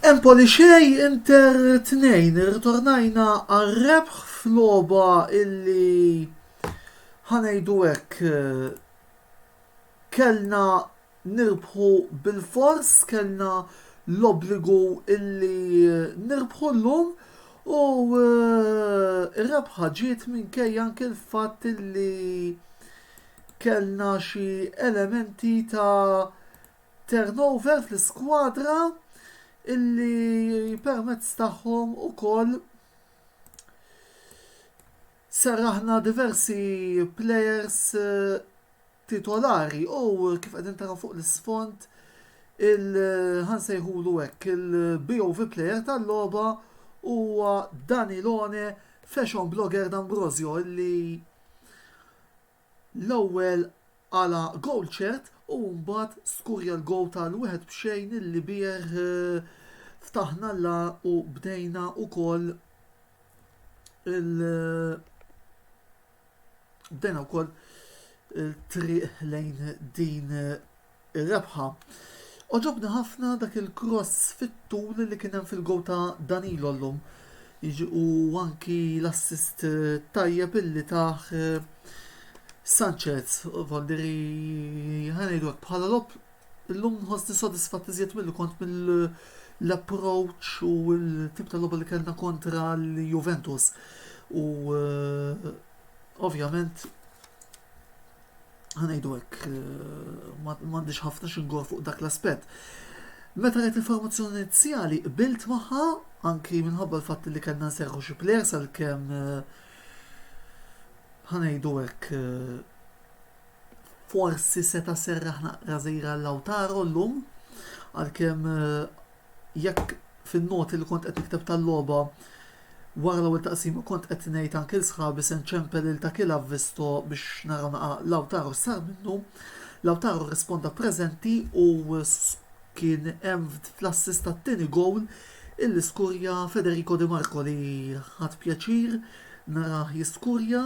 Empoli xej Inter 2 irritornajna għal rebħ f'loba illi ħanejdu hekk kellna nirbħu bilfors, kellna l-obbligu illi nirbħu llum u r-rebħa ġiet minkejja anke l-fatt illi kellna xi elementi ta' turnover fl-iskwadra illi permezz tagħhom ukoll serraħna diversi plejers titolari u kif qegħdin taraw fuq l-isfond il ħa nsejħulu hekk il-BOV player tal-logħba huwa Danilone Fashion Blogger D'Ambrosio li l-ewwel għala goal ċert u mbagħad skurja l-goal tal-wieħed b'xejn illi bih ftaħna l u bdejna wkoll il bdejna wkoll il-triq lejn din ir-rebħa. Oġobni ħafna dak il-cross fit-tul li kien hemm fil-gow ta' Danilo llum. Jiġi u anki l-assist tajjeb illi taħ eh, Sanchez, Valdiri ħanejdu bħala lob Illum nħossni sodisfatt iżjed milli kont mill-approach u l-tip ta' logħba li kellna kontra l-Juventus. U ovvjament ħanejdu hekk m'għandix ħafna xingor fuq dak l-aspett. Meta qed il-formazzjoni inizjali qbilt magħha anki minħabba l-fatt li kellna nserħu xi plejers għalkemm eh, ħanejdu hekk eh, Forsi seta' serraħ naqra żejra Lautaro llum, għalkemm jekk fin-noti li kont qed nikteb tal-logħba wara l-ewwel taqsima kont qed ngħid anke lil sħabi se nċempel lil dak il Avvisto biex naraw naqa' Lautaro x'sar minnu, Lautaro rrisponda preżenti u kien hemm fl-assist tat-tieni gowl illi skurja Federico Di Marco li ħadt pjaċir narah jiskurja.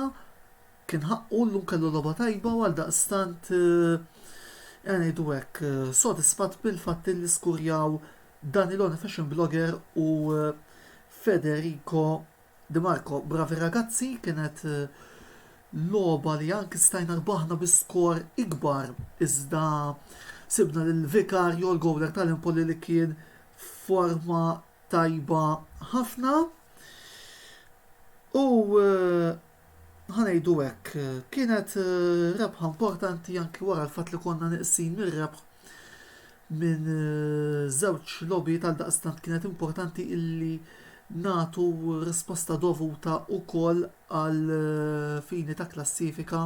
Kien ħaqqu llum kellu logħba tajba u għaldaqstant ejja ngħidu hekk sodisfatt bil-fatt li skurjaw Danilone Fashion Blogger u Federico Di Marco. Bravi ragazzi, kienet logħba li anki stajna rbaħna bi skor ikbar iżda sibna lil Vicario, l-gowler tal-Empoli li kien f'forma tajba ħafna u ħa ngħidu hekk, kienet rebħa importanti anki wara l-fatt li konna neqsin mir-rebħ minn żewġ logħbiet għaldaqstant kienet importanti illi nagħtu risposta dovuta wkoll għal fini ta' klassifika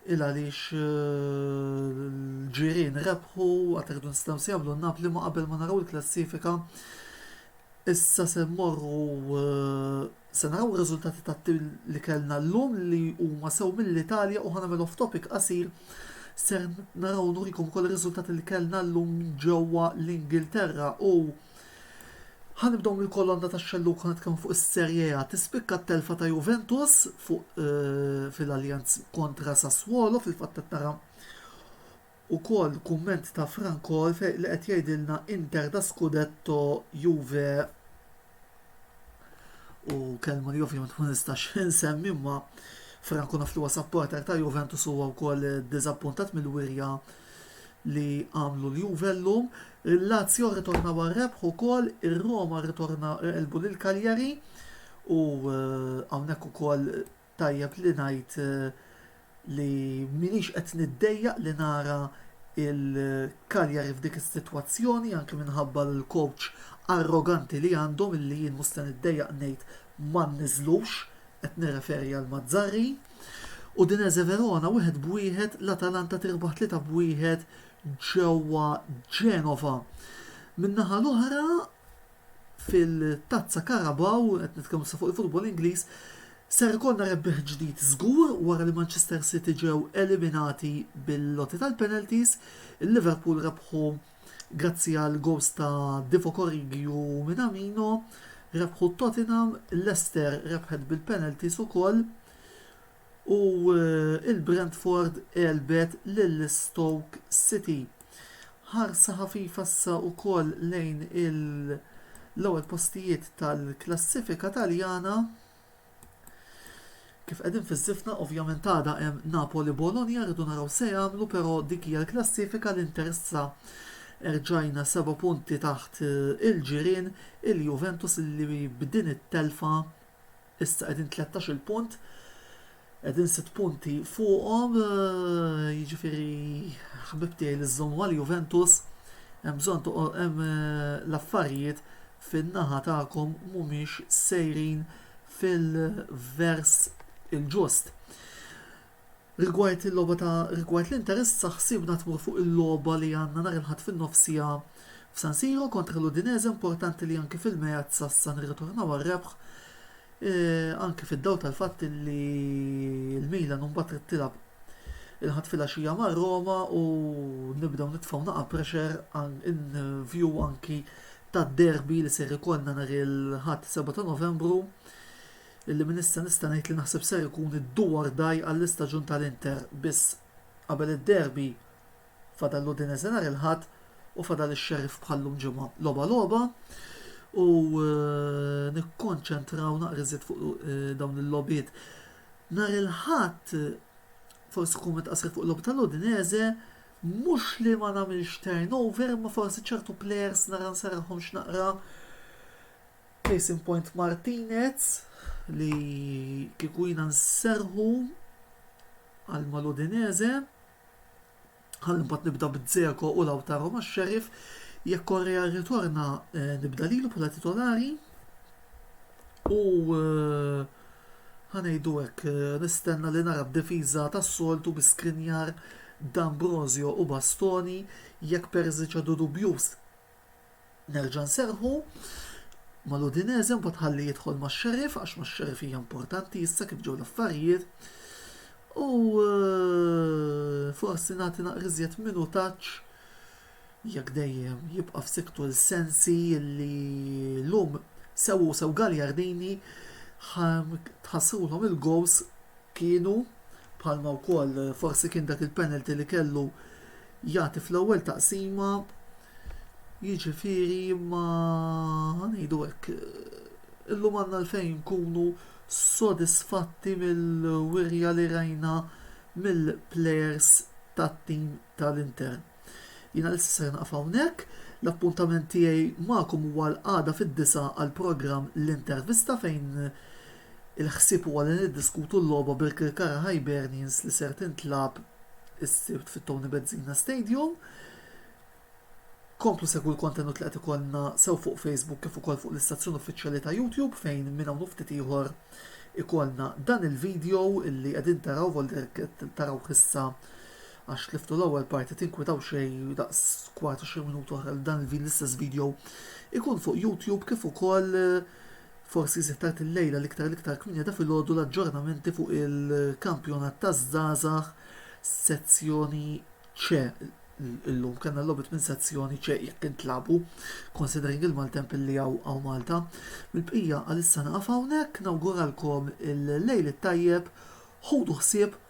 il għaliex l-ġirien rebħu għad irridu nistgħu nsejħulhom Napli ma qabel ma naraw il-klassifika Issa se mmorru se naraw ir-riżultati tat-tim li kellna llum li huma sew mill-Italja u ħa nagħmel off topic qasir ser naraw nurikom ukoll ir-riżultati li kellna llum ġewwa l-Ingilterra u ħa nibdew mill-kolonna tax-xellug ħa nitkellmu fuq is-Serie A. Tispikka t-telfa ta' Juventus fuq eh, fil-Allianz kontra Sassuolo fil-fatt qed nara Ukoll kumment ta' Frank Orff li qed jgħidilna Inter da scudetto Juve u kelma li ovvjament ma nistax insemmi imma Frank naf li huwa supporter ta' Juventus huwa wkoll diżappuntat mill-wirja li għamlu l-Juve llum. Il-Lazio rritorna war rebħ ukoll, ir-Roma rritorna elbu lil Cagliari u eh, hawnhekk ukoll Tajjeb li ngħid li m'iniex qed niddejjaq li nara l-Cagliari f'dik is-sitwazzjoni, anki minħabba l-coach arroganti li għandhom illi jien mhux se niddejjaq ngħid ma nniżżlux, qed nirreferi għal Mazzarri. Udinese Verona wieħed b'wieħed, l-Atalanta tirbaħ tlieta b'wieħed ġewwa Genova. Min-naħa l-oħra fil-Tazza Carabao, qed nitkellmu issa fuq il-futbol Ingliż, ser ikollna rebbieħ ġdid żgur wara li Manchester City ġew eliminati bil-lotti tal-penalties. Il-Liverpool rebħu grazzi għal goals ta' Divock Origi u Minamino, rebħu Tottenham, Leicester rebħet bil-penalties ukoll. u l-Brentford għelbet lil Stoke City. Ħarsa ħafifa issa wkoll lejn l-ewwel postijiet tal-klassifika Taljana kif qegħdin fiż-żifna ovvjament għada hemm Napoli Bologna rridu naraw se jagħmlu però dik hija l-klassifika l-Inter issa erġajna seba' punti taħt eh, il-ġirien il-Juventus li b'din it-telfa Issa qegħdin tlettax-il punt, qegħdin sitt punti fuqhom, eh, jiġifieri ħbib tiegħi li żżommu għal Juventus, hemm bżonn toqgħod hemm eh, l-affarijiet fin-naħa tagħkom mhumiex sejrin fil-vers il-ġust. Rigward il-logħba ta' rigward l-interess aħsibna tmur fuq il-logħba li għandna nhar il-Ħadd fin-nofsija f'San Siro kontra l-Udinese importanti li anki fil-Meazza issa nirritornaw għar-rebħ anki fid-dawl tal-fatt li l-Milan imbagħad trid tilgħab il-Ħadd filgħaxija ma' Roma u nibdew nitfgħu naqa' pressure in view anki tad-derby li ser ikollna nhar il-Ħadd 7 ta' Novembru. Lilli minn issa nista' ngħid li naħseb ser ikun id-do or die għall-istaġun tal-Inter biss qabel id-derby fadal l-Udinese nhar il-Ħadd u fadal ix-Sheriff bħal llum ġimgħa logħba logħba u nikkonċentraw naqra iżjed fuq dawn il-logħbiet. Nhar il-Ħadd forsi kumment qasir fuq logħba tal-Udinese mhux li ma nagħmilx turnover imma forsi ċertu players nara nsarħhomx naqra Case in point Martinez li kieku jiena nserħu għal mal-Udinese ħalli mbagħad nibda b'Dzeko u Lautaro ma' Sheriff jekk Correa rritorna eh, nibda lilu bħala titolari u eh, ħanejdu hekk eh, nistenna li nara b'difiża tas-soltu bi Skriniar, D'Ambrosio u Bastoni jekk Perzic għadu dubjuż Nerġa' nserrħu mal-Udinese mbagħad ħalli jidħol max-Sheriff għax max-Sheriff hija importanti issa kif ġew l-affarijiet. U eh, forsi nagħti naqriżjed minutaġġ jekk dejjem jibqa' f'siktu l-sensi li lum sew u sew Galjardini tħassrulhom il-gows kienu bħalma wkoll forsi kien dak il-penalty li kellu jagħti fl-ewwel taqsima jiġifieri ma ngħidu hekk illum għandna għalfejn nkunu sodisfatti mill-wirja li rajna mill-plejers tat-tim tal-Inter. Jiena l-issa se naqaf hawnhekk, l-appuntament tiegħi magħkom huwa l-għada fid-disgħa għall-programm l-intervista fejn Il-ħsieb huwa li niddiskutu l-logħba bil-Kirkara Hibernians li ser tintlagħab is-Sibt fit-Tony Bezzina Stadium. Komplu segwu l-kontenut li qed ikollna sew fuq Facebook kif ukoll fuq l-istazzjon uffiċjali ta' YouTube fejn minn hawn u ftit ieħor ikollna dan il-video li qegħdin taraw volder taraw issa għax tliftu l-ewwel parti tinkwitaw xejn daqs kwart 20 minuta oħra li dan l-istess video ikun fuq YouTube kif ukoll Forsi se tard illejla l-iktar l-iktar kmieni ta' filgħodu l-aġġornamenti fuq il-kampjonat taż-żgħażagħ sezzjoni C. Illum kellna logħbiet minn sezzjoni C jekk intlagħbu, considering il-maltemp illi hawn hawn Malta. Mill-bqija għalissa nieqaf hawnhekk, nawguralkom il-lejl it-tajjeb, ħudu ħsieb,